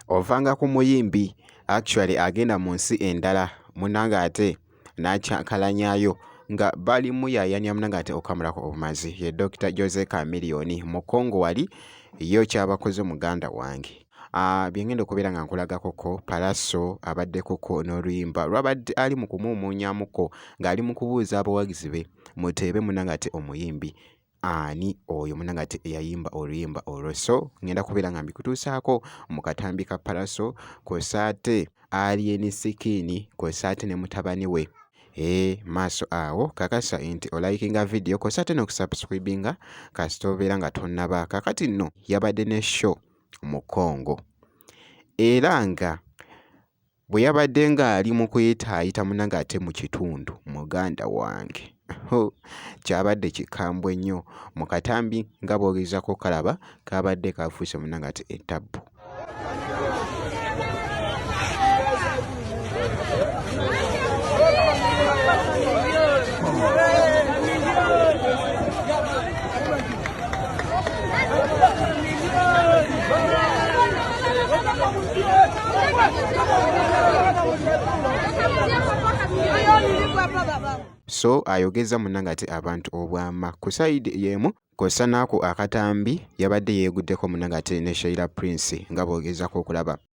ovanga ku muyimbi actually agenda mu nsi endala munange ate n'akyankalanyayo nga bali muyayanya munange ate okamulako obumazi ye dr jose camilioni mu congo wali yo kyabakoze muganda wange Ah, bye ngenda okubeera nga nkulagakoko palaso abaddekoko n'oluyimba lwabadde ali mu kumuumuunyamuko ng'ali mu kubuuza abawagizi be muteebe munanga ate omuyimbi ani oyo munanga ate eyayimba oluyimba olwo so ngenda kubeera nga mbikutuusaako mu katambi ka palaso kwesaate alieni sikiini kwesaate ne mutabani we ee eh, maaso awo kakasa nti olayikinga vidiyo kwesaate n'okusubscribinga kasita obeera nga tonnaba kakati nno yabadde ne show Mukongo era nga bwe yabadde ng'ali mu kuyitaayita munnange ate mu kitundu muganda wange hoo kyabadde kikambwe nnyo mu katambi nga bw'ogezaako okalaba kaabadde kafuuse munnange ate ettabbu. so ayogeza munange ati abantu obwama ku sayidi yemu kosa naako akatambi yabadde yeeguddeko munange ate ne shaira prince nga boogezako okulaba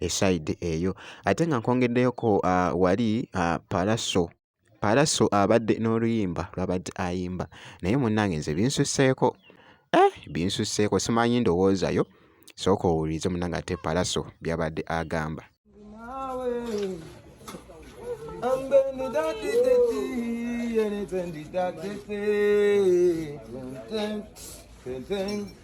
eside eyo ate nga nkwongeddeyoko uh, wali uh, palaso palaso abadde uh, n'oluyimba lwabadde ayimba naye munnange nze binsusseeko eh, binsusseeko simanyi ndowoozayo sooka owulirize munnange ate palaso byabadde agamba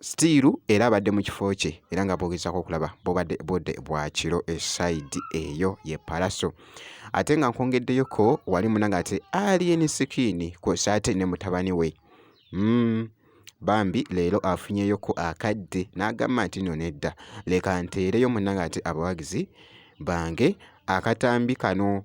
sitiiru era abadde mu kifo kye era nga bwogezako okulaba bubadde budde bwa kiro esayidi eyo ye palaso ate nga nkwongeddeyoko wali munanga ate alien sikiini kwosa ate ne mutabani we mm. bambi leero afunyeyoko akadde n'agamba nti no nedda leka nteereyo munanga ati abawagizi bange akatambi kano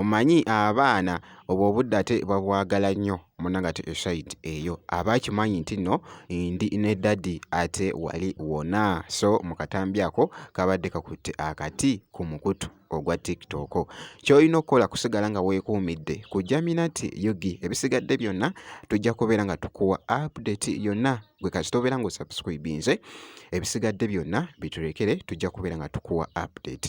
Omanyi abaana obwo obudde ate babwagala nnyo munnange ate esayidi eyo aba akimanyi nti nno ndi ne ddadi ate wali wonna. So mu katambi ako kabadde kakutte akati ku mukutu ogwa TikTok. Ky'olina okukola kusigala nga weekuumidde ku Jaminati Yugi. Ebisigadde byonna tujja kubeera nga tukuwa update yonna gwe kasita obeera ng'osubscribinze. Ebisigadde byonna biturekere, tujja kubeera nga tukuwa update.